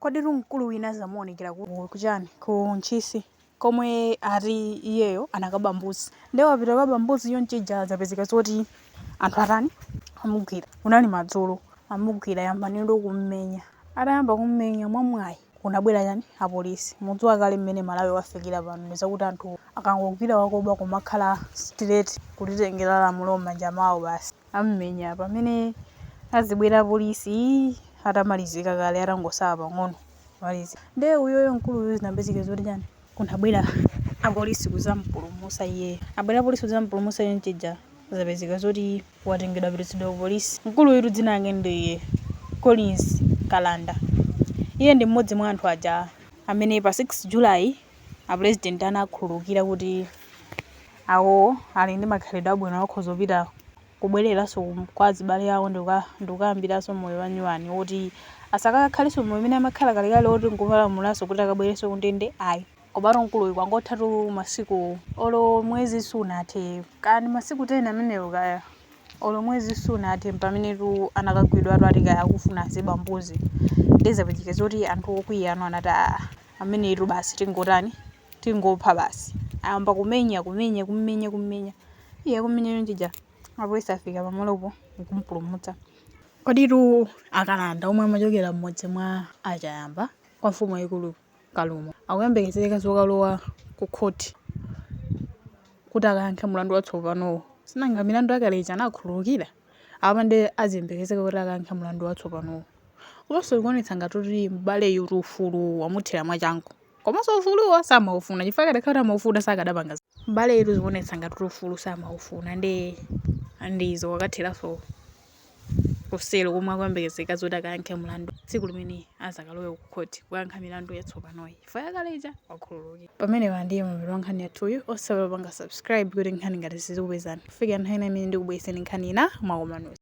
Koditu mkulu wina zamuonekera ku ku chani ku Ntchisi komwe ati iyeyo anakaba mbuzi nde wapita kukaba mbuzi chonchija zapezeka zoti anthu atani amugwira kunali madzulo amugwira ayamba ndi kummenya atayamba kummenya mwamwayi kunabwera chani apolisi mukudziwa kale mmene Malawi wafikira pano ndi zakuti anthu akangogwira wakuba kumakhala straight kutitengera lamulo mmanja mwawo basi. amumenya pamene azibwera apolisi atamalizika kale atangosala pang'ono malizi nde iyeyo mkuluyu zinapezeka zoti chani kunabwera apolisi kuzampulumusa iyeyo abwera apolisi kuzampulumusa iye chonchija zapezeka zoti watengedwa wapititsidwa ku polisi mkuluyutu dzina lake ndi collins kalanda iye ndi mmodzi mwa anthu aja amene pa 6 july a president anakhululukira kuti awowo ali ndi makhalidwe abwino akhoza kupita kubwereranso ku- kwa azibale awo ndikuka- ndikukayambiranso moyo wanyuwani woti asakakhalenso moyo umene amakhala kalekale woti nkupalamulanso kuti akabwerenso kundende ayi komano mkuluyu kwangothatu masiku olo mwezi sunathe kaya ndi masiku 10 amenewo kaya olo mwezi sunathe mpamenetu anakagwidwanso ati kaya amafuna aziba mbuzi ndezapezeka zoti anthu okwiyawa anati aa ameneyitu basi tingotani, tingopha basi. Ayamba kumenya, kumenya, kum'menya, kum'menya. Iye akumenya chonchija, apolisi afika pamalopo n'kumupulumutsa. Koditu akalanda omwe amachokera m'mudzi mwa a Chayamba kwa mfumu yaikulu Kalumo, akuyembekezeka zokalowa kukhoti kuti akayankhe mlandu watsopanowu. Sinanga milandu yakale ija anakhululukira? apa nde aziyembekezeka kuti akayankhe mlandu watsopanowo komanso ikuonetsa ngati kuti m'baleyu kuti ufulu wamuthera mwachangu komanso ufuluwo samaufuna chifukwa akadakhala kuti amaufuna sakadapanga zi- m'baleyu zikuonetsa ngati kuti ufulu samaufuna ndi ndizo akathiranso kuselo komwe akuyembekezeka zoti akayankhe mlandu tsiku limene azakalowe ku khoti kukayankha milandu yatsopanoyi Chifukwa yakale ija wakhululukira. Pamenepa ndiye mapeto a nkhani yathuyu. Osaiwala kupanga subscribe kuti nkhani ngati izi zizikupezani. Kufikira nthawi ina imene ndikubweretseni nkhani ina mwakomanonse.